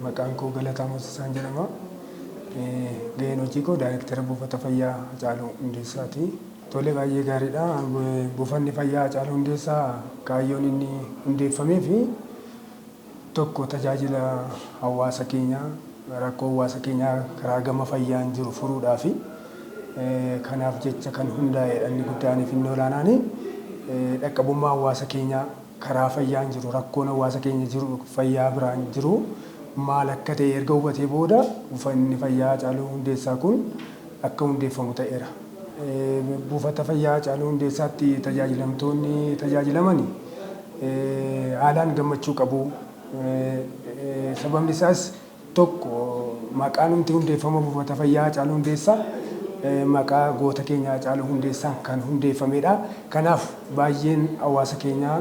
Maqaan koo Galataa Moosisaan jedhama. Gaheen hojii koo Daayirektara Buufata Fayyaa Hacaaluu Hundeessaa ti. Tole baay'ee gaariidha. Buufanni Fayyaa Hacaaluu Hundeessaa kaayyoon inni hundeeffameef tokko tajaajila hawaasa keenyaa rakkoo hawaasa keenyaa karaa gama fayyaan jiru furuudhaafi. Kanaaf jecha kan hundaa'eedha inni guddaaniif inni olaanaani. Dhaqqabummaa hawaasa keenyaa. Karaa fayyaan jiru rakkoon hawaasa keenya jiru fayyaa biraan jiru maal akka ta'e erga hubatee booda buufanni fayyaa Hacaaluu Hundeessaa kun akka hundeeffamu ta'eera. Buufata fayyaa Hacaaluu Hundeessaatti tajaajilamtoonni tajaajilaman haalaan gammachuu qabu. Sababni isaas 1, Maqaanumti hundeeffama Buufata Fayyaa Haacaaluu Hundeessaa maqaa goota keenya Haacaaluu Hundeessaan kan hundeeffamedha. Kanaaf baay'een hawaasa keenyaa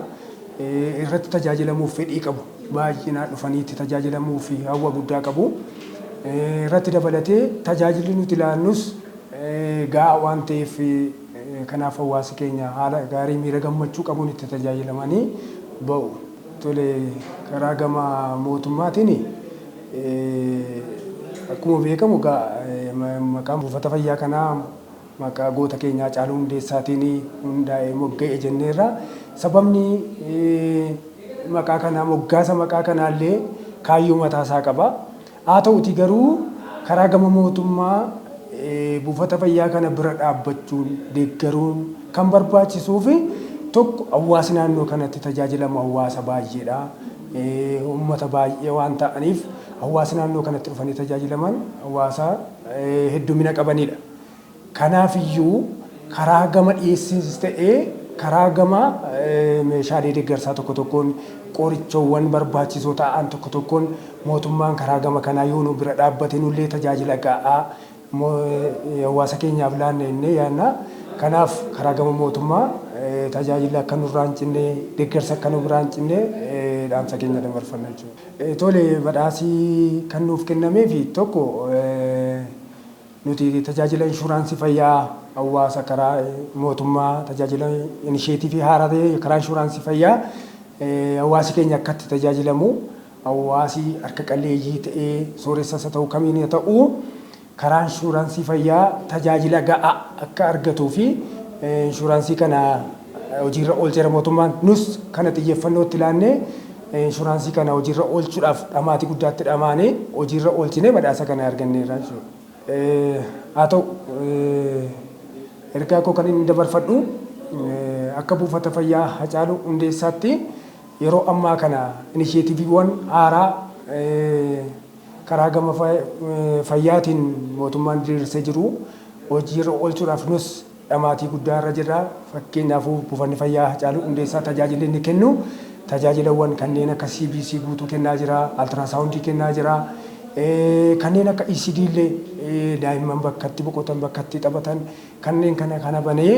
irratti tajaajilamuuf fedhii qabu. Baay'inaan dhufanii itti tajaajilamuuf hawwa guddaa qabu. Irratti dabalatee tajaajilli nuti laannus gahaa waan ta'eef kanaaf hawaasi keenya haala gaarii miira gammachuu qabuun itti tajaajilamanii ba'u. Tole, karaa gama mootummaatiin akkuma beekamu egaa maqaan buufata fayyaa kanaa maqaa goota keenya Hacaaluu Hundeessaatiin hundaa'e mogga'e jenneerra. Sababni maqaa kanaa moggaasa maqaa kanaallee kaayyoo mataasaa qaba. Haata'uutii garuu karaa gama mootummaa buufata fayyaa kana bira dhaabbachuun, deeggaruun kan barbaachisuufi tokko hawwaasi naannoo kanatti tajaajilamu hawwaasa baay'eedha. Uummata baay'ee waan ta'aniif hawwaasi naannoo kanatti dhufanii tajaajilaman hawwaasa heddumina qabaniidha. Kanaaf iyyuu karaa gama dhiyeessiinis ta'ee karaa gama meeshaalee deeggarsaa tokko tokkoon, qorichoowwan barbaachisoo ta'an tokko tokkoon mootummaan karaa gama kanaa yoo nu bira dhaabbate nullee tajaajila ga'aa hawaasa keenyaaf laanna jennee yaadna. Kanaaf karaa gama mootummaa tajaajilli akka nurraa hin cinne, deeggarsi akka nu biraa hin cinne dhaamsa keenya dabarfanna jechuudha. Tole badhaasi kan nuuf kennameef tokko Nuti tajaajila inshuraansii fayyaa hawwaasa karaa mootummaa tajaajila inisheetiivii haaraa ta'e karaa inshuraansii fayyaa hawwaasi keenya akka itti tajaajilamu hawwaasi harka qalleeyyii ta'ee sooressas haa ta'u kamiin haa ta'u karaa inshuraansii fayyaa tajaajila ga'aa akka argatuu fi inshuraansii kana hojiirra oolcheera mootummaan. Nus kana xiyyeffannoo itti laannee inshuraansii kana hojiirra oolchuudhaaf dhamaatii guddaa itti dhamaanee hojiirra oolchinee badhaasa kana arganneerra jechuudha. Haa ta'u ergaa koo kan inni dabarfadhu akka buufata fayyaa Hacaaluu Hundeessaatti yeroo ammaa kana inisheetiviiwwan haaraa karaa gama fayyaatiin mootummaan diriirsee jiru hojiirra oolchuudhaaf nus Dhamaatii guddaa irra jirra. Fakkeenyaafuu Buufanni Fayyaa Hacaaluu Hundeessaa tajaajilli inni kennu tajaajilawwan kanneen akka CBC guutuu kennaa jira, Altirasaawundii kennaa jira, kanneen akka ECD illee daa'imman bakka itti boqotan, bakka itti taphatan kanneen kana kana banee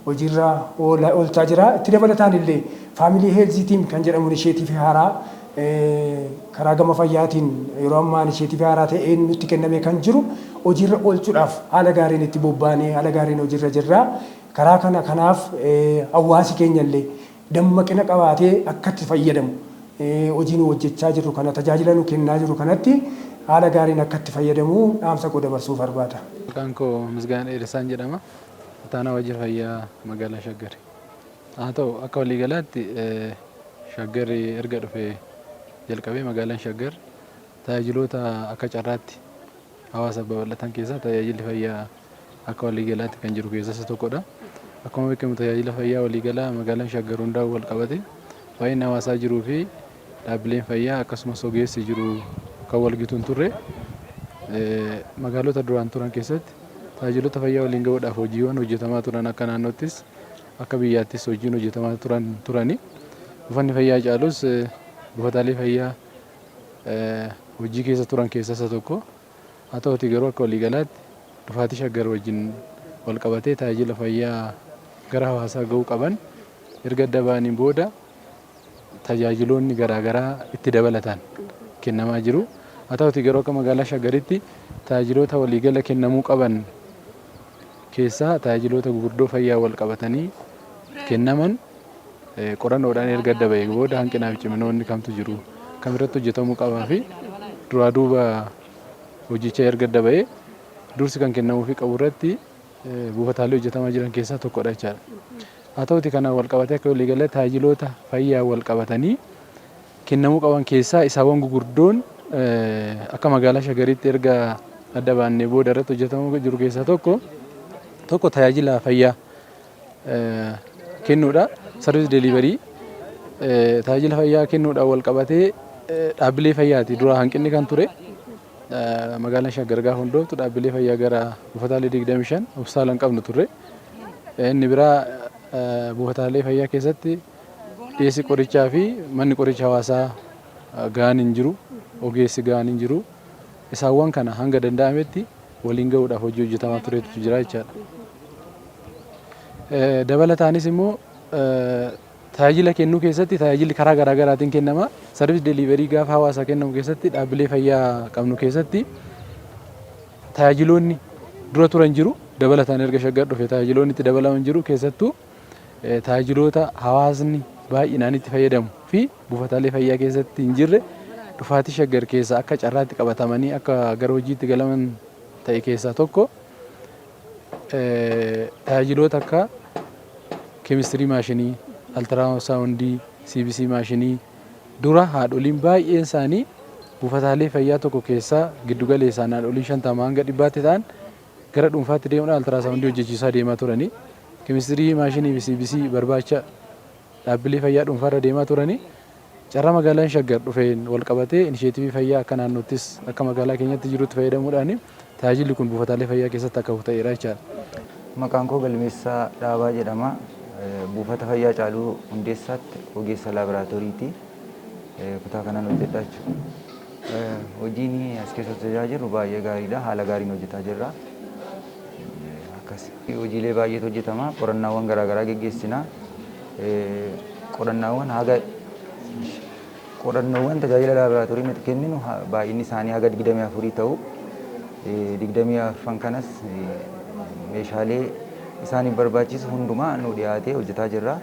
hojiirra oolchaa jira. Itti dabalataan illee Family Health Team kan jedhamu inisheetiivii haaraa karaa gama fayyaatiin yeroo ammaa inisheetivii haaraa ta'een nutti kennamee kan jiru hojiirra oolchuudhaaf haala gaariin itti bobbaanee haala gaariin hojiirra jirra. Karaa kana kanaaf hawaasi keenya illee dammaqina qabaatee akka itti fayyadamu hojii nu hojjechaa jirru kana tajaajila nu kennaa jirru kanatti haala gaariin akka itti fayyadamu dhaamsa koo dabarsuu barbaada. Maqaan koo Misgaanaa Dheeressaan jedhama. Ittaanaa Waajjira Fayyaa Magaalaa Shaggari. Haa ta'u, akka waliigalaatti Shaggar erga dhufee jalqabee magaalaan Shaggar tajaajiloota akka carraatti hawaasaaf babal'atan keessaa tajaajilli fayyaa akka waliigalaatti kan jiru keessaa isa tokkodha. Akkuma beekamu tajaajila fayyaa waliigalaa magaalaan Shaggar hundaa'uu walqabate baay'inni hawaasaa jiruu fi dhaabbileen fayyaa akkasumas ogeessi jiru kan walgitu hin turre. Magaalota duraan turan keessatti tajaajilota fayyaa waliin ga'uudhaaf hojiiwwan hojjetamaa turan akka naannoottis Akka biyyaattis hojiin hojjetamaa turan turani. Buufanni fayyaa Hacaaluus buufataalee fayyaa hojii keessa turan keessaa isa tokko. Haa ta'uutii garuu akka waliigalaatti dhufaatii Shaggar wajjin wal qabatee tajaajila fayyaa gara hawaasaa ga'uu qaban erga adda ba'aniin booda tajaajiloonni garaa garaa itti dabalataan kennamaa jiru. Haa ta'uutii garuu akka magaalaa Shaggaritti tajaajiloota waliigala kennamuu qaban keessaa tajaajiloota gurguddoo fayyaa wal qabatanii kennaman qorannoodhaan erga adda ba'ee booda hanqinaa fi ciminoonni kamtu jiru kam irratti hojjetamuu qabaa fi duraa duuba hojicha erga adda ba'ee dursi kan kennamuufi qabu irratti buufataalee hojjetamaa jiran keessaa tokkodha jechaadha. Haa ta'uutii kanaan walqabatee akka waliigalaatti taajajiloota fayyaan walqabatanii kennamuu qaban keessaa isaawwan gugurdoon akka magaalaa Shagariitti erga adda baannee booda irratti hojjetamuu jiru keessaa tokko tokko tajaajila fayyaa kennuudha. Sarviis deliverii tajaajila fayyaa kennuudhaan walqabatee dhaabbilee fayyaati dura hanqinni kan ture. Magaalaan Shaggar gaafa hundooftu dhaabbilee fayyaa gara buufataalee 25 hospitaalan qabnu turre. Inni biraa buufataalee fayyaa keessatti dhiyeessi qorichaa fi manni qoricha hawaasaa ga'aan hin jiru, ogeessi ga'aan hin jiru. Isaawwan kana hanga danda'ametti waliin ga'uudhaaf hojii hojjetamaa turetu jira jechaadha. Dabalataanis immoo Tajaajila kennuu keessatti tajaajilli karaa garaa garaatiin kennama. Service delivery gaafa hawaasaa kennamu keessatti dhaabbilee fayyaa qabnu keessatti tajaajiloonni dura turan jiru. Dabalataan erga shaggar dhufe tajaajiloonni itti dabalaman jiru. Keessattuu tajaajiloota hawaasni baay'inaan itti fayyadamu fi buufataalee fayyaa keessatti hin jirre dhufaatii shaggar keessa akka carraatti qabatamanii akka gara hojiitti galaman ta'e keessaa tokko. Tajaajiloota akka keemistirii maashinii, altiraasawundii, CBC maashinii dura haadholiin baay'een isaanii buufataalee fayyaa tokko keessaa giddu galeessaan haadholiin 50 hanga 100tti ta'an gara dhuunfaatti deemuudhaan altiraasawundii hojjechiisaa deemaa turanii keemistirii maashinii fi CBC barbaacha dhaabbilee fayyaa dhuunfaarra deemaa turanii Carraa magaalaan Shaggar dhufeen walqabatee inisheetivii fayyaa akka naannoottis akka magaalaa keenyatti jirutti fayyadamuudhaan tajaajilli kun buufataalee fayyaa keessatti akka hafu ta'eera jechaadha. Maqaan koo Galmeessaa Dhaabaa jedhama. Buufata fayyaa Caaluu Hundeessaatti ogeessa laaboraatooriiti. Kutaa kanaan hojjedha jechuudha. Hojiin as keessa hojjechaa jirru baay'ee gaariidha. Haala gaariin hojjetaa jirra. Akkasi. Hojiilee baay'eetu hojjetama. Qorannaawwan garaagaraa geggeessina. Qorannaawwan haga Qorannoowwan tajaajila laaboraatoorii nuti kenninu baay'inni isaanii haga 24 ta'u. 24 kanas meeshaalee isaaniif barbaachisu hundumaa nu dhiyaatee hojjetaa jirra.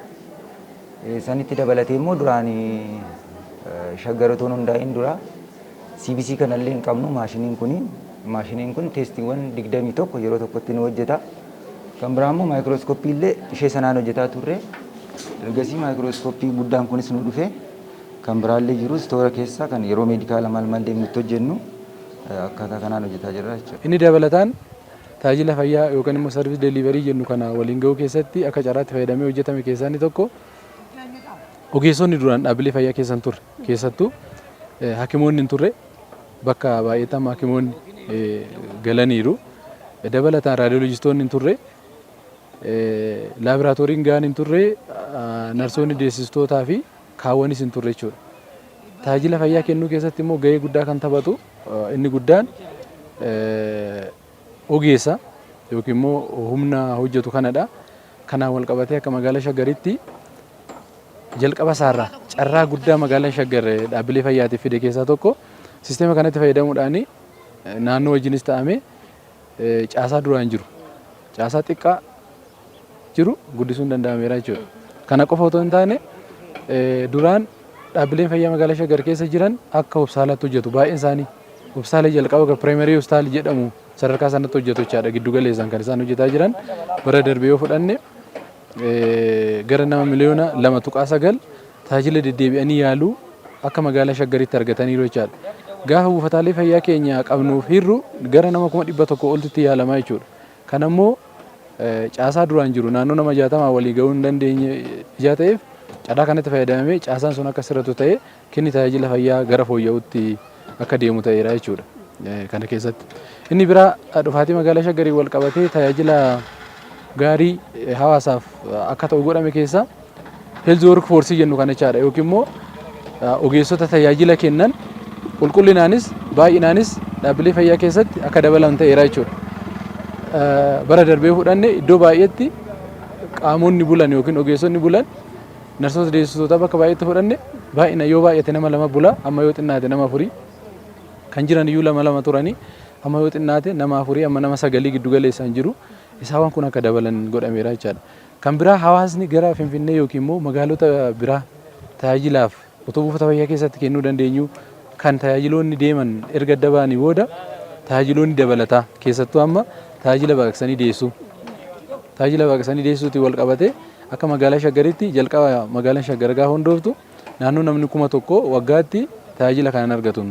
Sanitti dabalatee immoo duraan shaggar otoo hundaa'in dura CBC kanallee hin qabnu maashiniin kun maashiniin kun teestiiwwan 21 yeroo tokkotti nu hojjeta. Kan biraa immoo maayikirooskoppii illee ishee sanaan hojjetaa turre. Ergasii maayikirooskoppii guddaan kunis nu dhufe. Kan biraa illee jiru istoora keessa kan yeroo meedikaala maal maal deemnu itti hojjennu akkaataa kanaan hojjetaa jirra jechuudha. Inni dabalataan tajaajila fayyaa yookaan immoo service delivery jennu kana waliin gahuu keessatti akka carraatti fayyadamee hojjetame keessaa inni tokko ogeessonni duraan dhaabbilee fayyaa keessa hin turre keessattuu hakimoonni hin turre Bakka baay'eetti haakimoonni galaniiru. Dabalataan raadiyoolojistoonni hin turre. Laaboraatooriin gahaan hin turre. Narsoonni deessistootaa fi kaawwanis hin turre jechuudha. Tajaajila fayyaa kennuu keessatti immoo gahee guddaa kan taphatu inni guddaan ogeessa yookiin immoo humna hojjetu kanadha. Kanaan wal qabatee akka magaalaa Shaggaritti jalqaba isaarraa carraa guddaa magaalaan Shaggar dhaabbilee fayyaatiif fide keessaa tokko sisteema kanatti fayyadamuudhaan naannoo wajjinis ta'amee caasaa duraan jiru caasaa xiqqaa jiru guddisuun danda'ameera jechuudha. Kana qofa otoo hin taane duraan dhaabbileen fayyaa magaalaa Shaggar keessa jiran akka hospitaalaatti hojjetu baay'een isaanii. Hospitaala jalqaba kan piraayimari hospitaal jedhamu sadarkaa sanatti hojjetu jechaadha giddu galeessaan kan isaan hojjetaa jiran bara darbe yoo fudhanne gara nama miliyoona lama tuqaa sagal tajaajila deddeebi'anii yaaluu akka magaalaa Shaggaritti argataniiru jechaadha. Gaafa buufataalee fayyaa keenya qabnuuf hirru gara nama kuma dhibba tokko oltitti yaalamaa jechuudha. Kana immoo caasaa duraan jiru naannoo nama 60 walii gahuu hin dandeenye ijaa ta'eef carraa kanatti fayyadamamee caasaan sun akka sirratu ta'ee kenni tajaajila fayyaa gara fooyya'utti akka deemu ta'eera jechuudha. Kana keessatti inni biraa dhufaatii magaalaa Shaggariin wal qabatee tajaajila gaarii hawaasaaf akka ta'u godhame keessaa Health work force jennu kana jechaadha yookiin immoo ogeessota tajaajila kennan qulqullinaanis baay'inaanis dhaabbilee fayyaa keessatti akka dabalan ta'eera jechuudha. Bara darbee fudhanne iddoo baay'eetti qaamonni bulan yookiin ogeessonni bulan narsoota deessisootaa bakka baay'eetti fudhanne baay'ina yoo baay'ate nama lama bula amma yoo xinnaate nama afurii kan jiran iyyuu lama lama turanii amma yoo xinnaate nama afurii amma nama sagalii giddu galeessaan jiru isaawwan kun akka dabalan godhameera jechaadha. Kan biraa hawaasni gara Finfinnee yookiin immoo magaalota biraa tajaajilaaf otoo buufata fayyaa keessatti kennuu dandeenyu kan tajaajiloonni deeman erga adda ba'anii booda tajaajiloonni dabalataa keessattuu amma tajaajila baqaqsanii deessuu tajaajila baqaqsanii deessuutiin wal qabatee akka magaalaa Shaggaritti jalqaba magaalaan Shaggar gaafa hundooftu naannoo namni kuma tokko waggaatti tajaajila kanan argatu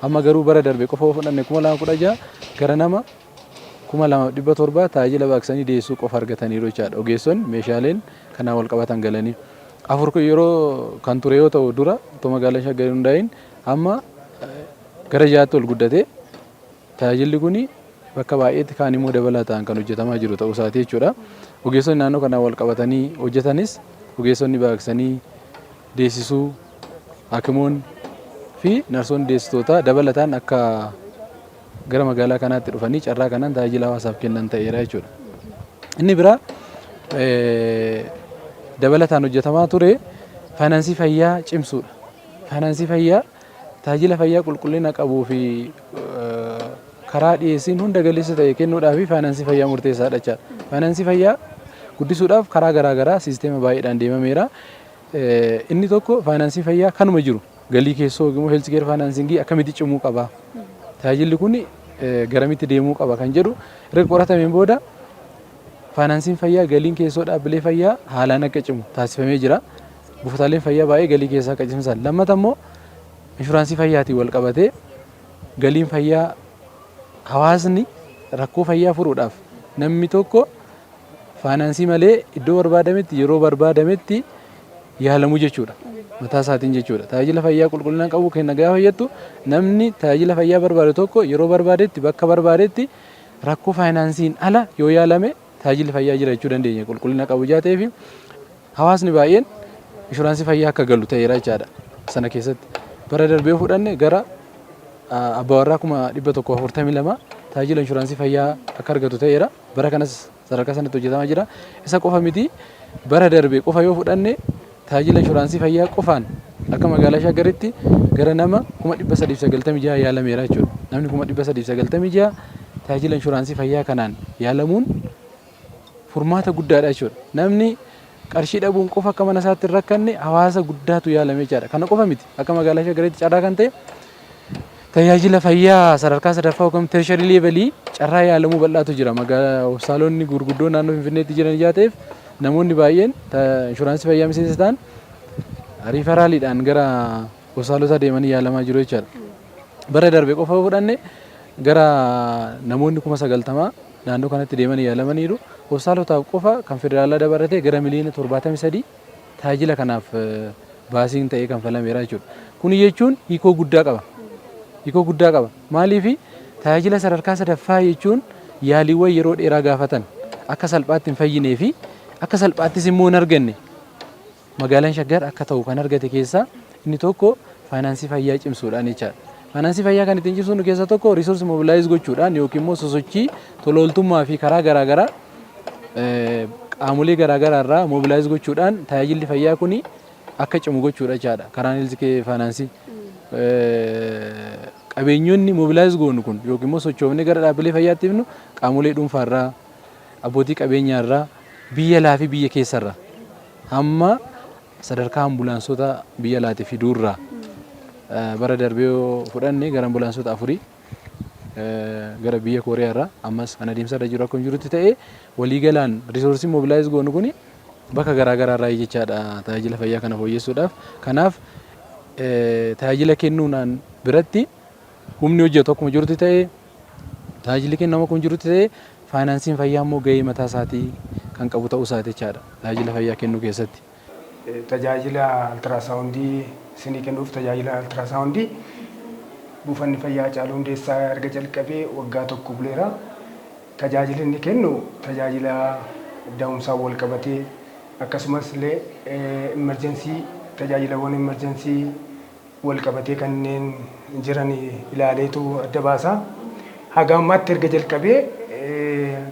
amma garuu bara darbe qofa fudhanne kuma lama kudha jaha gara nama 2,700 taajila baqsanii deessuu qofa argataniiru jechaadha. Ogeessoonni meeshaaleen kanaan walqabatan galanii. 4 kun yeroo kan ture yoo ta'u dura otoo magaalaan Shaggar hin hundaa'iin amma gara 6tti ol guddatee tajaajilli kun bakka baay'eetti kaan immoo dabalataan kan hojjetamaa jiru ta'uu isaati jechuudha. Ogeessonni naannoo kanaan walqabatanii hojjetanis ogeessonni baqsanii deessisuu, hakimoonni fi narsoonni deessitootaa dabalataan akka gara magaalaa kanaatti dhufanii carraa kanaan tajaajila hawaasaaf kennan ta'eera jechuudha. Inni biraa dabalataan hojjetamaa ture faayinaansii fayyaa cimsuudha. Faayinaansii fayyaa tajaajila fayyaa qulqullina qabuu fi karaa dhiyeessiin hunda galeessa ta'e kennuudhaaf faayinaansii fayyaa murteessaadha jechaadha. Faayinaansii fayyaa guddisuudhaaf karaa garaagaraa siisteema baay'eedhaan deemameera. Inni tokko faayinaansii fayyaa kanuma jiru Galii keessoo yookiin immoo healthcare financing akkamitti cimuu qaba? Tajaajilli kun garamitti deemuu qaba kan jedhu erga qoratameen booda faayinaansiin fayyaa galiin keessoo dhaabbilee fayyaa haalaan akka cimu taasifamee jira. Buufataaleen fayyaa baay'ee galii keessaa akka cimsan. Lammata immoo inshuraansii fayyaatiin wal qabatee galiin fayyaa hawaasni rakkoo fayyaa furuudhaaf namni tokko faayinaansii malee iddoo barbaadametti yeroo barbaadametti yaalamu jechuudha. Mataa isaatiin jechuudha. Tajaajila fayyaa qulqullina qabu kenna gaafa jettu namni tajaajila fayyaa barbaadu tokko yeroo barbaadetti bakka barbaadetti rakkoo faayinaansiin ala yoo yaalame tajaajilli fayyaa jira jechuu dandeenya qulqullina qabu ijaa ta'eefi hawaasni baay'een inshuraansii fayyaa akka galu ta'eera jechaadha sana keessatti. Bara darbee fudhanne gara abbaa warraa kuma dhibba tokko afurtamii lama tajaajila inshuraansii fayyaa akka argatu ta'eera. Bara kanas Sadarkaa sanatti hojjetamaa jira. Isa qofa miti bara darbe qofa yoo fudhanne tajaajila inshuraansii fayyaa qofaan akka magaalaa Shaggaritti gara nama kuma 396 yaalameera jechuudha. Namni kuma 396 tajaajila inshuraansii fayyaa kanaan yaalamuun furmaata guddaadha jechuudha. Namni qarshii dhabuun qofa akka mana isaatti hin rakkanne hawaasa guddaatu yaalame jechaadha. Kana qofa miti akka magaalaa Shaggaritti carraa kan ta'e Tajaajila fayyaa sadarkaa sadaffaa yookiin tertiary level carraa yaalamuu bal'aatu jira. Magaalaa hospitaalonni gurguddoo naannoo Finfinneetti jiran ijaa ta'eef namoonni baay'een inshuraansii fayyaa miseensa ta'an riifaraaliidhaan gara hospitaalotaa deemanii yaalamaa jiru jechaadha. Bara darbe qofa yoo fudhanne gara namoonni kuma sagaltamaa naannoo kanatti deemanii yaalamaniiru. Hospitaalotaaf qofa kan federaalaa dabalatee gara miliyoona torbaatamii sadii tajaajila kanaaf baasiin ta'ee kanfalameera jechuudha. Kuni jechuun hiikoo guddaa qaba. Hiikoo guddaa qaba. Maaliif tajaajila sadarkaa sadaffaa jechuun yaaliiwwan yeroo dheeraa gaafatan akka salphaatti hin fayyinee fi akka salphaattis immoo hin arganne magaalaan shaggar akka ta'u kan argate keessaa inni tokko faayinaansii fayyaa cimsuudhaan jechaadha. Faayinaansii fayyaa kan ittiin cimsuun keessaa tokko riisorsi mobilaayiz gochuudhaan yookiin immoo sosochii tolooltummaa fi karaa garaagaraa qaamolee garaa garaa irraa mobilaayiz gochuudhaan tajaajilli fayyaa kun akka cimu gochuudha jechaadha. Karaan heelzikee faayinaansii. Qabeenyonni mobilaayiz goonu kun yookiin immoo sochoofnee gara dhaabbilee fayyaatti himnu qaamolee dhuunfaa irraa, abbootii qabeenyaa irraa, biyya alaa fi biyya keessa irraa hamma sadarkaa ambulaansota biyya alaati fiduu irraa bara darbee yoo fudhanne gara ambulaansota afurii gara biyya Kooriyaa irraa ammas kan adeemsa irra jiru akkuma jirutti ta'ee waliigalaan riisoorsiin mobilaayiz goonu kun bakka garaa garaa irraa jechaadha tajaajila fayyaa kana fooyyessuudhaaf. Kanaaf tajaajila kennuunaan biratti humni hojjetu akkuma jirutti ta'ee tajaajilli kennamu akkuma jirutti ta'ee faayinaansiin fayyaa immoo gahee mataa isaatii kan qabu ta'uu isaati jechaadha tajaajila fayyaa kennuu keessatti. Tajaajila Altiraasaawundii isinii kennuuf Tajaajila Altiraasaawundii Buufanni Fayyaa Hacaaluu Hundeessaa erga jalqabee waggaa tokko buleera. Tajaajilli inni kennu tajaajila da'umsaan wal qabatee akkasumas illee immerjensii tajaajilawwan immerjensii wal qabatee kanneen jiran ilaaleetu adda baasa. Haga ammaatti erga jalqabee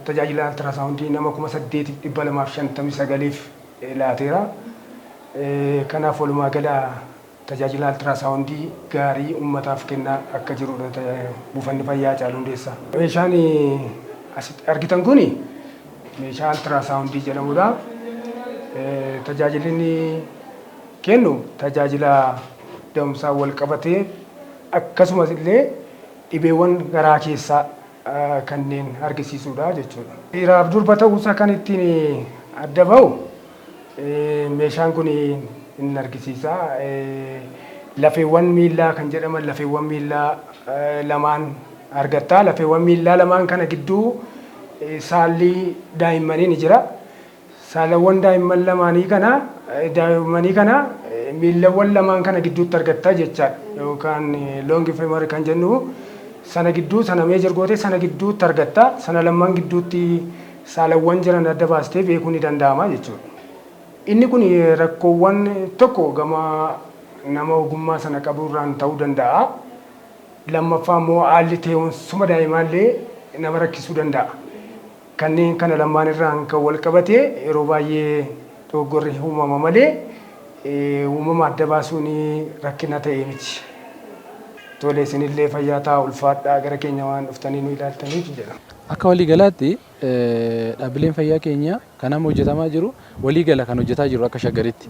tajaajila Altiraasaawundii nama 8,259f laateera. Kanaaf walumaa gala tajaajila Altiraasawundii gaarii ummataaf kennaa akka jirudha Buufanni Fayyaa Haacaaluu Hundeessaa. Meeshaan asitti argitan kun meeshaa Altiraasawundii jedhamudha. Tajaajilli inni kennu tajaajila da'umsaan walqabatee akkasumas illee dhibeewwan garaa keessaa kanneen argisiisuudha jechuudha. Dhiiraaf durba ta'uusaa kan ittiin adda bahu meeshaan kun hin argisiisa. Lafeewwan miillaa kan jedhaman lafeewwan miillaa lamaan argatta. Lafeewwan miillaa lamaan kana gidduu saalli daa'immanii ni jira. Saalawwan daa'imman lamaanii kana, daa'immanii kana miillawwan lamaan kana gidduutti argatta jechaadha. Yookaan long femur kan jennu sana gidduu sana measure gootee sana gidduutti argatta. Sana lamman gidduutti saalawwan jiran adda baastee beekuu ni danda'ama jechuudha. Inni kun rakkoowwan tokko gama nama ogummaa sana qabuu irraan ta'uu danda'a. Lammaffaa immoo haalli tee'umsuma daa'imaallee nama rakkisuu danda'a. Kanneen kana lamaan irraan kan wal qabate yeroo baay'ee dogoggorri uumama malee uumama adda baasuun rakkina ta'e miti. Tole isinillee fayyaa ta'aa ulfaadhaa gara keenya waan dhuftanii nu ilaaltaniif jedha. Akka walii galaatti dhaabbileen fayyaa keenya kan amma hojjetamaa jiru walii gala kan hojjetaa jirru akka Shaggaritti.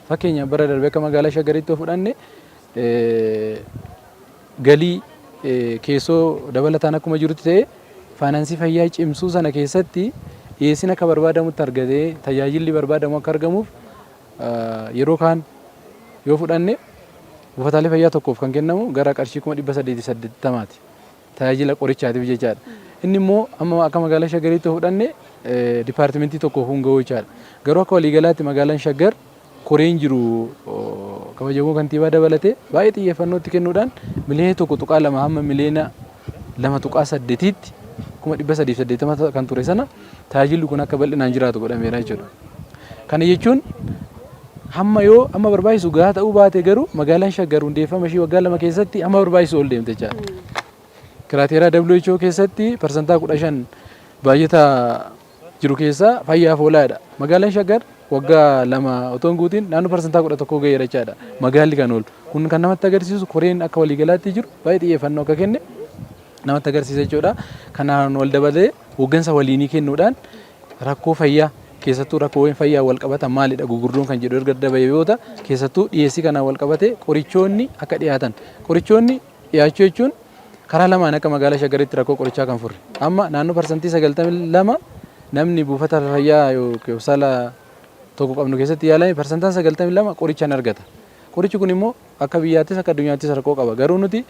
Fakkeenyaaf bara darbe akka magaalaa Shaggaritti yoo fudhanne galii keessoo dabalataan akkuma jirutti ta'ee faayinaansii fayyaa cimsuu sana keessatti dhiyeessiin akka barbaadamutti argatee tajaajilli barbaadamu akka argamuuf yeroo kaan yoo fudhanne buufataalee fayyaa tokkoof kan kennamu gara qarshii kuma dhibba saddeetii saddeettamaati. tajaajila qorichaatiif jechaadha. Inni immoo amma akka magaalaa Shaggariitti yoo fudhanne dipaartimentii tokkoof hin ga'u jechaadha. Garuu akka waliigalaatti magaalaan Shaggar koreen jiru kabajamoo kantiibaa dabalatee baay'ee xiyyeeffannootti kennuudhaan miliyoona tokko tuqaa lama hamma miliyoona lama tuqaa saddeetiitti kuma dhibba sadii fi saddeettama kan ture sana tajaajilli kun akka bal'inaan jiraatu godhameera jechuudha. Kana jechuun hamma yoo amma barbaachisu gahaa ta'uu baate garuu magaalaan shaggar hundeeffama ishii waggaa lama keessatti hamma barbaachisu ol deemte jechaadha. Kiraateeraa WHO keessatti parsantaa kudha shan baay'ata jiru keessaa fayyaaf oolaadha. Magaalaan shaggar waggaa lama otoo hin guutiin naannoo parsantaa kudha tokkoo ga'eera jechaadha. Magaalli kan oolu. Kun kan namatti agarsiisu koreen akka waliigalaatti jiru baay'ee xiyyeeffannoo akka kenne namatti agarsiisa jechuudha. Kanaan wal dabalee hooggansa waliinii kennuudhaan rakkoo fayyaa keessattuu rakkoowwan fayyaa wal qabatan maalidha gugurdoon kan jedhu erga adda bahee yoo ta'u keessattuu dhiyeessii kanaan wal qabatee qorichoonni akka dhiyaatan qorichoonni dhiyaachuu jechuun karaa lamaan akka magaalaa Shaggaritti rakkoo qorichaa kan furre amma naannoo parsantii 92 namni buufata fayyaa yookiin hospitaala tokko qabnu keessatti yaalame parsantaan 92 qoricha hin argata qorichi kun immoo Akka biyyaattis akka addunyaattis rakkoo qaba. Garuu nuti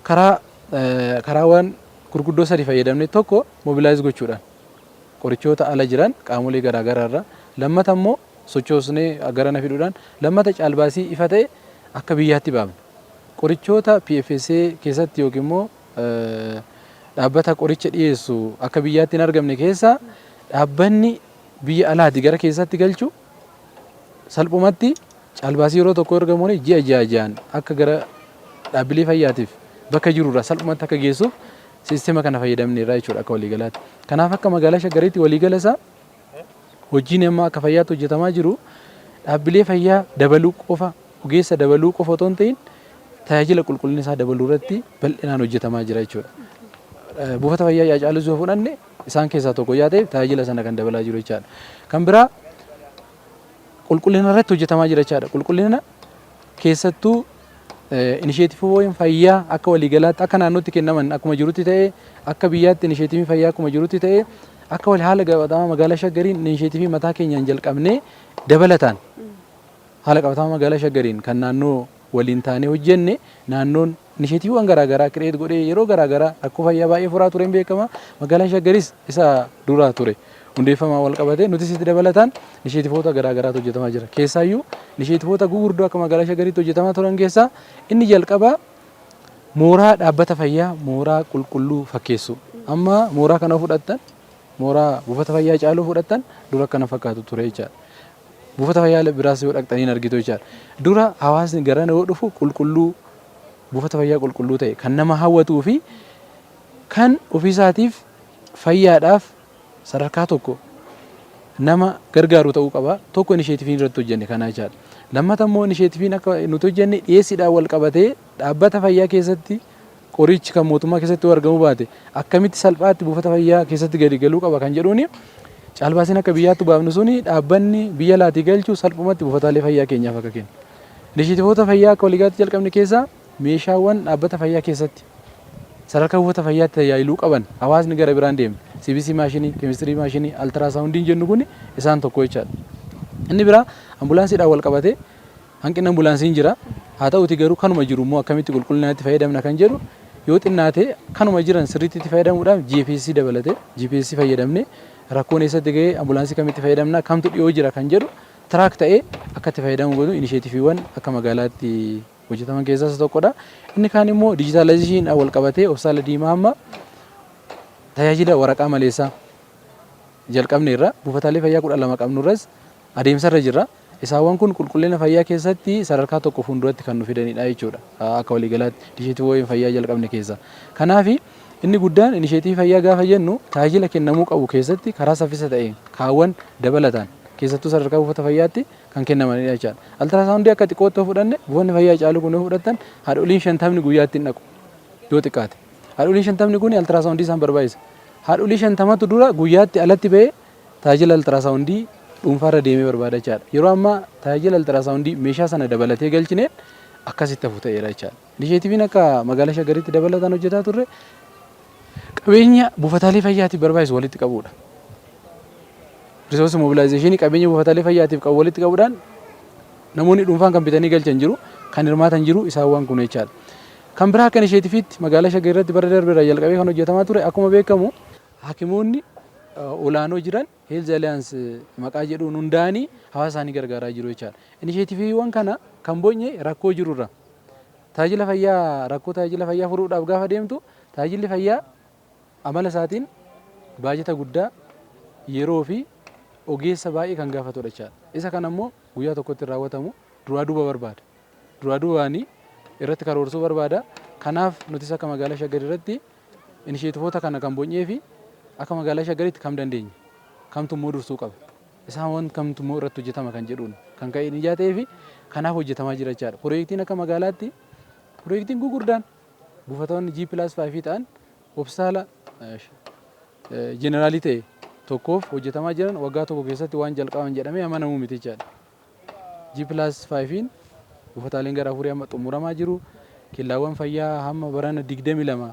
karaa karaawwan gurguddoo sadi fayyadamne tokko mobilaayiz gochuudhaan qorichoota ala jiran qaamolee garaa garaa irra lammata immoo sochoosnee garana fiduudhaan lammata caalbaasii ifa ta'e akka biyyaatti baafne. Qorichoota PFSA keessatti yookiin immoo dhaabbata qoricha dhiyeessu akka biyyaatti hin argamne keessaa dhaabbanni biyya alaati gara keessatti galchu Salphumatti caalbaasii yeroo tokkoo erga moone ji'a ja'a ja'an akka gara dhaabbilee fayyaatiif bakka jiru irraa salphumatti akka geessuuf siistema kana fayyadamneerra jechuudha akka waliigalaatti. Kanaaf akka magaalaa Shaggariitti waliigala isaa hojiin amma akka fayyaatti hojjetamaa jiru dhaabbilee fayyaa dabaluu qofa ogeessa dabaluu qofa otoo hin ta'in tajaajila qulqullina isaa dabaluu irratti bal'inaan hojjetamaa jira jechuudha. Buufata fayyaa Haacaaluu yoo fudhanne isaan keessaa tokko yaa ta'e tajaajila sana kan dabalaa jiru jechaadha. Kan biraa qulqullina irratti hojjetamaa jira jechaadha. Qulqullina keessattuu inisheetiiviiwwan fayyaa akka waliigalaatti akka naannootti kennaman akkuma jirutti ta'ee akka biyyaatti inisheetiivii fayyaa akkuma jirutti ta'ee akka wal haala qabatamaa magaalaa shaggariin inisheetiivii mataa keenyaan jalqabnee dabalataan haala qabatamaa magaalaa shaggariin kan naannoo waliin taanee hojjenne naannoon Inisheetiiviiwwan garaa garaa create godhee yeroo garaa garaa rakkoo fayyaa baay'ee furaa tureen beekama. Magaalaan Shaggaris isa dura ture. Hundeeffamaan wal qabatee nutis itti dabalataan inisheetivoota garaa garaatu hojjetamaa jira. Keessaayyuu inisheetivoota gugurdoo akka magaalaa Shaggaritti hojjetamaa turan keessaa inni jalqabaa mooraa dhaabbata fayyaa mooraa qulqulluu fakkeessuu. Amma mooraa kana fudhattan mooraa buufata fayyaa caaluu fudhattan dura akkana fakkaatu ture jechaadha. Buufata fayyaa biraas yoo dhaqxanii hin argitu jechaadha. Dura hawaasni garana yoo dhufu qulqulluu, buufata fayyaa qulqulluu ta'e, kan nama hawwatuu fi kan ofiisaatiif fayyaadhaaf sadarkaa tokko nama gargaaru ta'uu qaba. Tokko inisheetiviin irratti hojjenne kana jechaadha. Lammata immoo inisheetiviin akka nuti hojjenne dhiyeessiidhaan wal qabatee dhaabbata fayyaa keessatti Qoriichi kan mootummaa keessatti yoo argamuu baate akkamitti salphaatti buufata fayyaa keessatti gadi galuu qaba kan jedhuuni caalbaasiin akka biyyaatti baafnu suni dhaabbanni biyya laatii galchu salphumatti buufataalee fayyaa keenyaaf akka kennu. Inisheetivoota fayyaa akka waliigaatti jalqabne keessaa meeshaawwan dhaabbata fayyaa keessatti sadarkaa buufata fayyaatti tajaajiluu qaban hawaasni gara biraan deemne CBC maashinii, keemistirii maashinii, altiraasaawundiin jennu kun isaan tokko jechaadha. Inni biraa ambulaansiidhaan wal qabatee Hanqinni ambulaansii hin jira. Haa ta'uutii garuu kanuma jiru immoo akkamitti qulqullinaan itti fayyadamna kan jedhu yoo xinnaate kanuma jiran sirriitti itti fayyadamuudhaaf GPS dabalate GPS fayyadamne rakkoon eessatti ga'ee ambulaansii kamitti fayyadamna kamtu dhiyoo jira kan jedhu tiraak ta'ee akka itti fayyadamu godhu inisheetifiiwwan akka magaalaatti hojjetaman keessaa isa tokkodha. Inni kaan immoo dijitaalaayizeeshiniidhaan wal qabatee obsaala diimaa amma tajaajila waraqaa maleessaa jalqabneerra buufataalee fayyaa kudha lama qabnurras adeemsarra jirra. Isaawwan kun qulqullina fayyaa keessatti sadarkaa tokko fuulduratti kan nu fidanidha jechuudha akka waliigalaatti inisheetiivoowwan fayyaa jalqabne keessaa. Kanaaf, inni guddaan inisheetiivii fayyaa gaafa jennu tajaajila kennamuu qabu keessatti karaa saffisa ta'een kaawwan dabalataan keessattuu sadarkaa buufata fayyaatti kan kennamanidha jechaadha. Altiraasaawundii akka xiqqootti yoo fudhanne buufanni fayyaa Hacaaluu kun yoo fudhattan haadholiin shantamni guyyaatti hin dhaqu yoo xiqqaate. Haadholiin shantamni kun altiraasaawundii isaan barbaachisa. Haadholii shantamatu dura guyyaatti alatti ba'ee Tajaajila Altiraasaawundii dhuunfaa irra deemee barbaadachaa dha. Yeroo ammaa tajaajila Altiraasaawundii meeshaa sana dabalatee galchineen akkas itti hafu ta'eera jechaa dha. Inisheetiviin akka Magaalaa Shaggaritti dabalataan hojjetaa turre qabeenya buufataalee fayyaatiif barbaachisu walitti qabuu dha. Risoorsi moobilaayizeeshinii qabeenya buufataalee fayyaatiif qabu walitti qabuudhaan namoonni dhuunfaan kan bitanii galchan jiru, kan hirmaatan jiru isaan waan kun jechaa dha. Kan biraa akka inisheetiviitti Magaalaa Shaggar irratti bara darbe irraa jalqabee kan hojjetamaa ture akkuma beekamu Hakimoonni olaanoo jiran Health Alliance maqaa jedhuun hundaa'anii hawaasa isaanii gargaaraa jiru jechaadha. Inisheetiviiwwan kana kan bonye rakkoo jiru irraa. Tajaajila fayyaa rakkoo tajaajila fayyaa furuudhaaf gaafa deemtu tajaajilli fayyaa amala isaatiin baajata guddaa yeroo fi ogeessa baay'ee kan gaafatudha jechaadha. Isa kana immoo guyyaa tokkotti hin raawwatamu duraa duuba barbaada. Duraa duubaanii irratti karoorsuu barbaada. Kanaaf nutis akka magaalaa Shaggar irratti Inisheetivoota kana kan bony'ee fi akka magaalaa Shaggaritti kam dandeenya? Kamtu immoo dursuu qaba? Isaawwan kamtu immoo irratti hojjetama kan jedhuun kan ka'e ijaa ta'ee fi kanaaf hojjetamaa jira jechaadha. Pirooyektiin akka magaalaatti pirooyektiin gurguddaan buufatoonni G plus 5 ta'an hospitaala jeneraalii ta'e tokkoof hojjetamaa jiran waggaa tokko keessatti waan jalqaban jedhamee amanamuu miti jechaadha. G+5n buufataaleen gara afurii amma xumuramaa jiru. Kellaawwan fayyaa hamma barana 22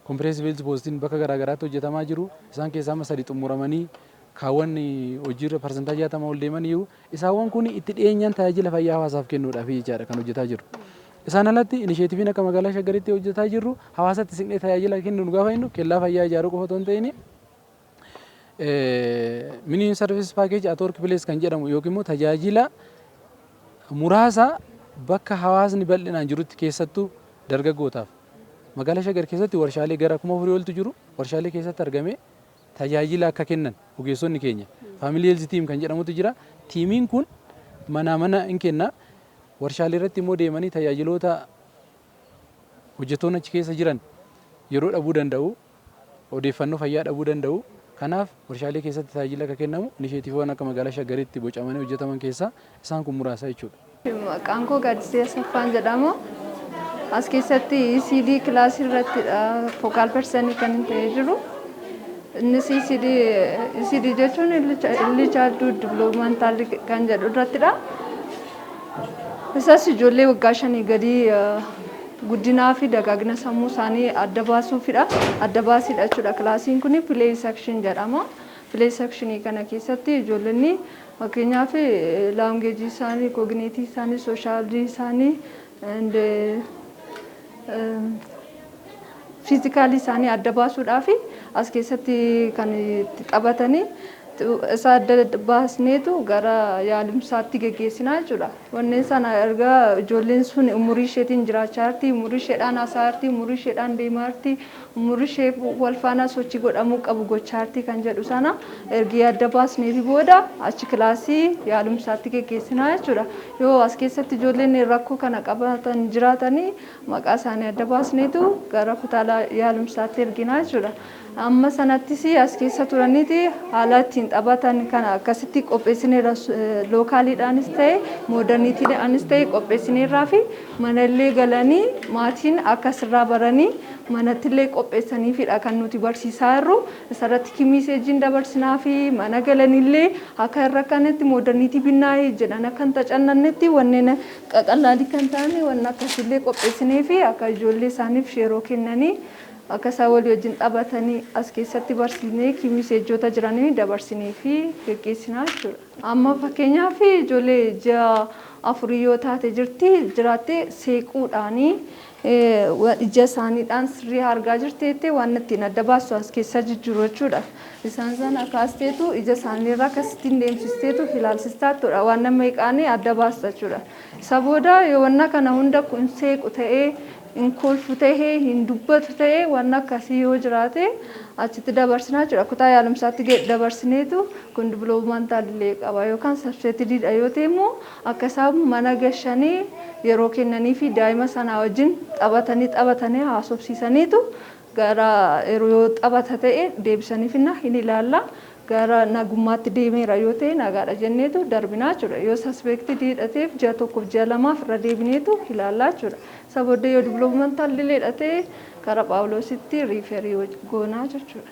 comprehensive health postin bakka garaa garaatti hojjetamaa jiru. Isaan keessaa amma sadi xumuramanii kaawwan hojiirra parsantaa 60 ol deemaniiru. Isaawwan kun itti dhiyeenyaan tajaajila fayyaa hawaasaaf kennuudhaaf jechaadha kan hojjetaa jirru. Isaan alatti inisheetiviin akka magaalaa Shaggaritti hojjetaa jirru hawaasatti siqnee tajaajila kennuun gaafa jennu kellaa fayyaa ijaaruu qofa otoo hin ta'in Mini service package at workplace kan jedhamu yookiin immoo tajaajila muraasa bakka hawaasni bal'inaan jirutti keessattuu dargaggootaaf magaalaa Shaggar keessatti warshaalee gara kuma afurii oltu jiru warshaalee keessatti argamee tajaajila akka kennan ogeessonni keenya faamilii heelzi tiim kan jedhamutu jira tiimiin kun manaa mana hin kenna warshaalee irratti immoo deemanii tajaajiloota hojjettoonni achi keessa jiran yeroo dhabuu danda'u odeeffannoo fayyaa dhabuu danda'u. Kanaaf, warshaalee keessatti tajaajilli akka kennamu inisheetiiviiwwan akka Magaalaa Shaggaritti bocamanii hojjetaman keessaa isaan kun muraasa jechuudha. Maqaan koo Gaaddisee Asaffaan jedhama. As keessatti ECD kilaasii irrattidha fokaal persanii kan hin ta'ee jiru. Innis ECD, ECD jechuun illi chaalduu diviloomantaal kan jedhu irrattidha. Isas ijoollee waggaa shanii gadii guddinaa fi dagaagina sammuu isaanii adda baasuufidha. Adda baasiidha jechuudha. Kilaasiin kun play section jedhama. Play section kana keessatti ijoollonni fakkeenyaaf laangeejii isaanii, kooginiitii isaanii, sooshaaldii isaanii, and fiizikaalii isaanii adda baasuudhaaf as keessatti kan itti taphatanii isa adda baasneetu gara yaalumsaatti geggeessinaa jechuudha. Wanneen sana erga ijoolleen sun umurii isheetiin jiraachaa jirti, umurii isheedhaan haasa'aa jirti, umurii isheedhaan deemaa jirti, umurii ishee wal faana sochii godhamuu qabu gochaa jirti kan jedhu sana ergi adda baasneefi booda achi kilaasii yaalumsaatti geggeessinaa jechuudha. Yoo as keessatti ijoolleen rakkoo kana qabaatan jiraatanii maqaa isaanii adda baasneetu gara kutaa yaalumsaatti erginaa jechuudha. Amma sanattis as keessa turaniiti haala ittiin taphatan kana akkasitti qopheessineerra lookaaliidhaanis ta'e moodarniitiidhaanis ta'e qopheessineerraa fi manallee galanii maatiin akka sirraa baranii manattillee qopheessaniifidha kan nuti barsiisaa jirru isarratti kimiiseejiin dabarsinaa fi mana galanillee akka irra kanatti moodarniitii binnaayii jedhan akka hin tacannannetti wanneen qaqallaalii kan ta'an wanna akkasillee qopheessinee fi akka ijoollee isaaniif yeroo kennanii Akka isaan walii wajjin taphatanii as keessatti barsiisnee kii miseejjoota jiranii dabarsinee fi geggeessinaa jechuudha. Amma fakkeenyaaf ijoollee ji'a afurii yoo taate jirti jiraatte seequudhaanii ija isaaniidhaan sirrii argaa jirti jettee waan ittiin adda baastu as keessa jijjiiru jechuudha. Isaan sana kaasteetu ija isaaniirraa akkasittiin deemsisteetu ilaalsistaa jechuudha. Waan nama eeqaanii adda baasta jechuudha. Isa booda yoo wanna kana hunda kun seequ ta'ee hin kolfu ta'e, hin dubbatu ta'e wanna akkasii yoo jiraate achitti dabarsina jechuudha. Kutaa yaalumsaatti ge- dabarsineetu kun developmental delay qaba yookaan subsetted dha yoo ta'e immoo akka isaan mana gashanii yeroo kennanii fi daa'ima sanaa wajjin taphatanii taphatanii haasofsiisaniitu Gara yeroo yoo xabata ta'e deebisanii finna hin ilaalla. Gara nagummaatti deemeera yoo ta'e nagaadha jenneetu darbinaa jechuudha. Yoo suspected dha ta'eef ji'a tokkoof ji'a lamaaf irra deebineetu ilaallaa jechuudha. Isa booddee yoo developmental delay dha ta'e gara Phaawuloositti referee goonaa jechuudha.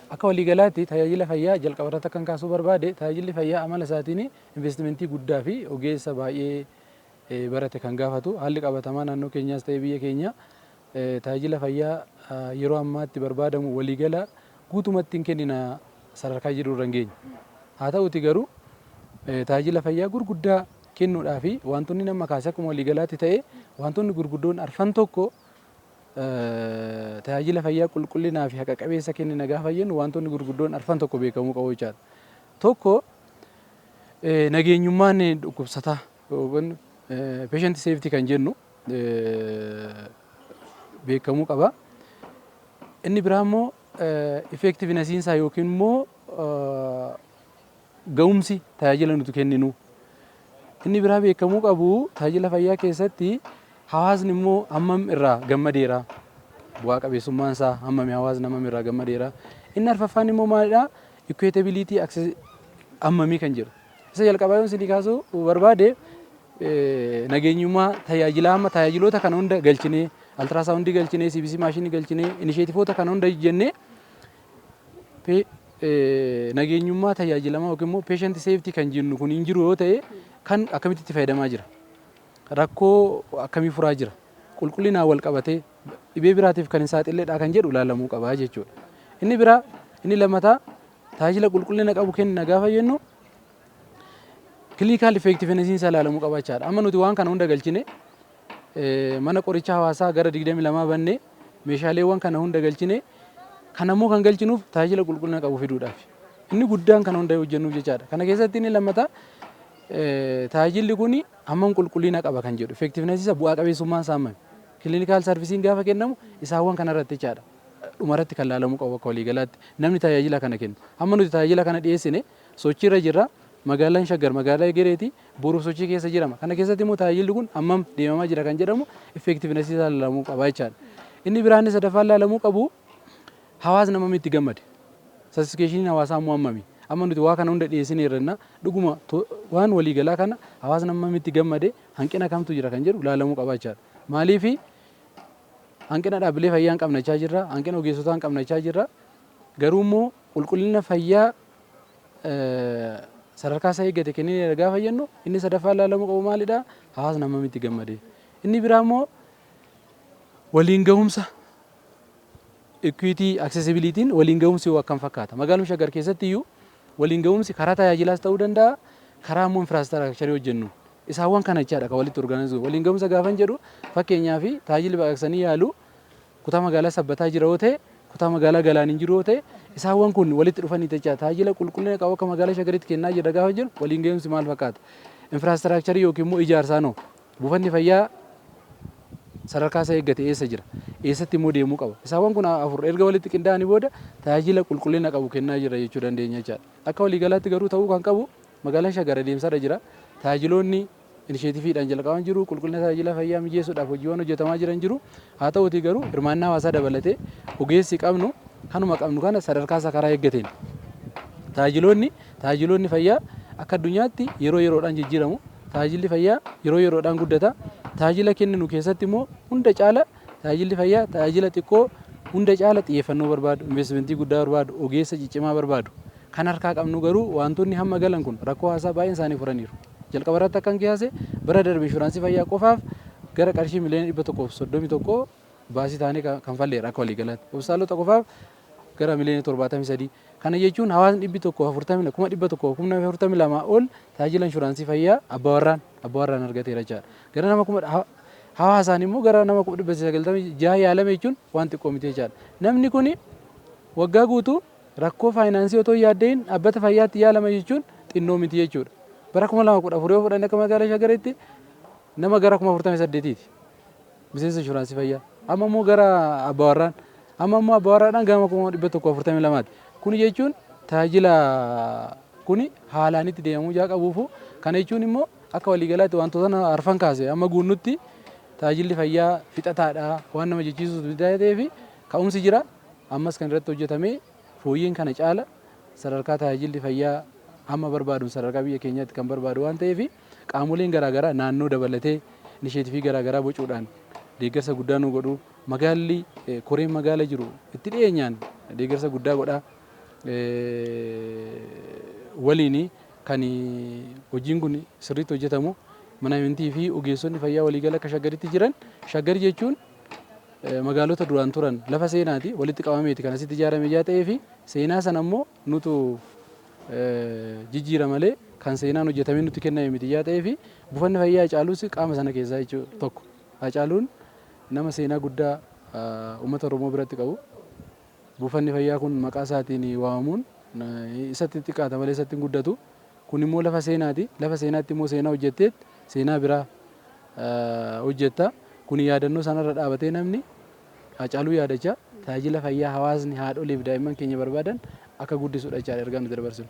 Akka waliigalaatti tajaajila fayyaa jalqabarratti akkan kaasuu barbaade tajaajilli fayyaa amala isaatiin investimentii guddaa fi ogeessa baay'ee barate kan gaafatu haalli qabatamaa naannoo keenyaas ta'ee biyya keenya tajaajila fayyaa yeroo ammaatti barbaadamu waliigala guutumatti hin kennina sadarkaa jedhu irra hin geenye. Haa ta'uti garuu tajaajila fayyaa gurguddaa kennuudhaa fi wantoonni nama kaase akkuma waliigalaatti ta'e wantoonni gurguddoon arfan tokko tajaajila fayyaa qulqullinaa fi haqa qabeessa kennina gaafa jennu wantoonni gurguddoon arfan tokko beekamuu qabu jechaadha. Tokko nageenyummaan dhukkubsataa yookiin patient safety kan jennu beekamuu qaba. Inni biraa immoo effectiveness isaa yookiin immoo Ga'umsi tajaajila nuti kenninuu. Inni biraa beekamuu qabu tajaajila fayyaa keessatti hawaasni immoo hammam irraa gammadeera. Bu'aa qabeessummaan isaa hammami hawaasni hammam irraa gammadeera. Inni arfaffaan immoo maalidha? Equitability access hammamii kan jedhu. Isa jalqabaa yoon isinii kaasuu barbaade nageenyummaa tajaajilaa amma tajaajiloota kana hunda galchinee altiraasaawundii galchinee CBC maashinii galchinee inisheetifoota kana hunda jennee nageenyummaa tajaajilamaa yookiin immoo patient safety kan jennu kun hin jiru yoo ta'e kan akkamitti itti fayyadamaa jira? Rakkoo akkamii furaa jira? Qulqullinaan wal qabatee dhibee biraatiif kan hin saaxilleedhaa kan jedhu ilaalamuu qaba jechuudha. Inni biraa inni lammataa tajaajila qulqullina qabu kenna gaafa jennu clinical effectiveness isaa ilaalamuu qaba jechaadha. Amma nuti waan kana hunda galchine Mana Qorichaa Hawaasaa gara 22 bannee meeshaaleewwan kana hunda galchine. Kana immoo kan galchinuuf tajaajila qulqullina qabu fiduudhaaf. Inni guddaan kana hunda hojjennuuf jechaadha. Kana keessatti inni lammataa tajaajilli kun hammam qulqullina qaba kan jedhu effectiveness isa bu'aa qabeessummaan isaa hammami. Clinical servicing gaafa kennamu isaawwan kanarratti jechaadha. Dhumarratti kan laalamuu qabu akka waliigalaatti namni tajaajila kana kennu. Amma nuti tajaajila kana dhiyeessine sochiirra jirra. Magaalaan Shaggar magaalaa egereeti. boruuf sochii keessa jirama. Kana keessatti immoo tajaajilli kun hammam deemamaa jira kan jedhamu effectiveness isaa ilaalamuu qaba jechaadha. Inni biraa inni sadaffaan ilaalamuu qabu hawaasni hammam itti gammade. Satisfikeeshiniin hawaasaa immoo hammami. Amma nuti waa kana hunda dhiyeessineerra jennaa dhuguma to- waan waliigalaa kana hawaasni hammam itti gammade hanqina kamtu jira kan jedhu ilaalamuu qaba jechaadha. Maaliifi hanqina dhaabbilee fayyaa hin qabnachaa jirra, hanqina ogeessotaa hin qabnachaa jirra. Garuu immoo qulqullina fayyaa sadarkaa isaa eeggate kennine jedha gaafa jennu inni sadaffaa ilaalamuu qabu maalidha? Hawaasni hammam itti gammadee. Inni biraa immoo waliin gahumsa equity accessibility waliin gahumsi hoo akkam fakkaata? Magaaluma Shaggar keessatti iyyuu waliin gahumsi karaa tajaajilaas ta'uu danda'a karaa immoo infraastiraakcharii hojjennu isaawwan kana jechaadha kan walitti orgaanizii waliin gahumsa gaafan jedhu fakkeenyaa fi tajaajilli baqaqsanii yaaluu Kutaa magaalaa Sabbataa jira yoo ta'e, kutaa magaalaa Galaaniin jiru yoo ta'e, isaawwan kun walitti dhufanii jecha tajaajila qulqullina qabu akka magaalaa Shaggaritti kennaa jirra gaafa jennu waliin gahiumsi maal fakkaata? Infraastiraakcharii yookiin immoo ijaarsaan hoo? Buufanni fayyaa sadarkaa isaa eeggate eessa jira? Eessatti immoo deemuu qaba? Isaawwan kun afur erga walitti qindaa'anii booda tajaajila qulqullina qabu kennaa jirra jechuu dandeenya jechaadha. Akka waliigalaatti garuu ta'uu kan qabu magaalaan Shaggar adeemsarra jira. Tajaajiloonni inisheetiviidhaan jalqaban jiru, qulqullina tajaajila fayyaa mijeessuudhaaf hojiiwwan hojjetamaa jiran jiru. Haa ta'uutii garuu hirmaannaa hawaasaa dabalatee ogeessi qabnu kanuma qabnu kana sadarkaa isaa karaa eeggateen tajaajiloonni tajaajiloonni fayyaa akka addunyaatti yeroo yeroodhaan jijjiiramu. Tajaajilli fayyaa yeroo yeroodhaan guddata. Tajaajila kenninu keessatti immoo hunda caala tajaajilli fayyaa tajaajila xiqqoo hunda caala xiyyeeffannoo barbaadu, investimentii guddaa barbaadu, ogeessa ciccimaa barbaadu. Kan harkaa qabnu garuu wantoonni hamma galan kun rakkoo hawaasaa baay'een isaanii furaniiru. Jalqaba irratti akkan kiyaase bara darbe inshuraansii fayyaa qofaaf gara qarshii miliyoona 131 baasii taanee kanfalleera akka waliigalaatti. Hospitaalota qofaaf gara miliyoona 73. Kana jechuun hawaasni 140 kuma 100 kuma 42 ol tajaajila inshuraansii fayyaa abbaa warraan abbaa warraan argateera jechaadha. Gara nama kuma hawaasaan immoo gara nama 996 yaalame jechuun waan xiqqoo miti jechaadha. Namni kun waggaa guutuu Rakkoo faayinaansii otoo hin yaadda'iin dhaabbata fayyaatti yaalama jechuun xinnoo miti jechuudha. Bara 2014 yoo fudhanne akka magaalaa Shagaritti nama gara 48,000ti miseensa inshuraansii fayyaa. Amma immoo gara abbaawarraan amma immoo abbaawarraadhaan gama 142ti. Kuni jechuun tajaajila kuni haalaan itti deemamuu ijaa qabuufu kana jechuun immoo akka waliigalaatti wantoota arfan kaase amma guunnutti tajaajilli fayyaa fixataadha waan nama jechiisuus ta'eefi ka'umsi jira. Ammas kan irratti hojjetamee fooyyeen kana caala sadarkaa tajaajilli fayyaa amma barbaadun sadarkaa biyya keenyaatti kan barbaadu waan ta'eef qaamoleen garaa garaa naannoo dabalatee inisheetifii garaa garaa bocuudhaan deeggarsa guddaa nu godhu. Magaalli koreen magaala jiru itti dhiyeenyaan deeggarsa guddaa godha. Waliin kan hojiin kun sirriitti hojjetamu mana amantii fi ogeessonni fayyaa waliigala akka shaggaritti jiran shaggar jechuun magaalota duraan turan lafa seenaati walitti qabameeti kan asitti ijaarame ijaa ta'ee fi seenaa sana immoo nutu jijjiira malee kan seenaan hojjetamee nutti kenname miti ijaa ta'ee fi buufanni fayyaa Hacaaluus qaama sana keessaa jechuu tokko. Hacaaluun nama seenaa guddaa uummata Oromoo biratti qabu. Buufanni fayyaa kun maqaa isaatiin waamamuun isatti xiqqaata malee isatti hin guddatu. Kun immoo lafa seenaati. Lafa seenaatti immoo seenaa hojjetteet seenaa biraa hojjetta. Kun yaadannoo sanarra dhaabatee namni Haacaaluu yaadachaa tajaajila fayyaa hawaasni haadholiif daa'imman keenya barbaadan akka guddisudha jechaadha ergaan nuti dabarsinu.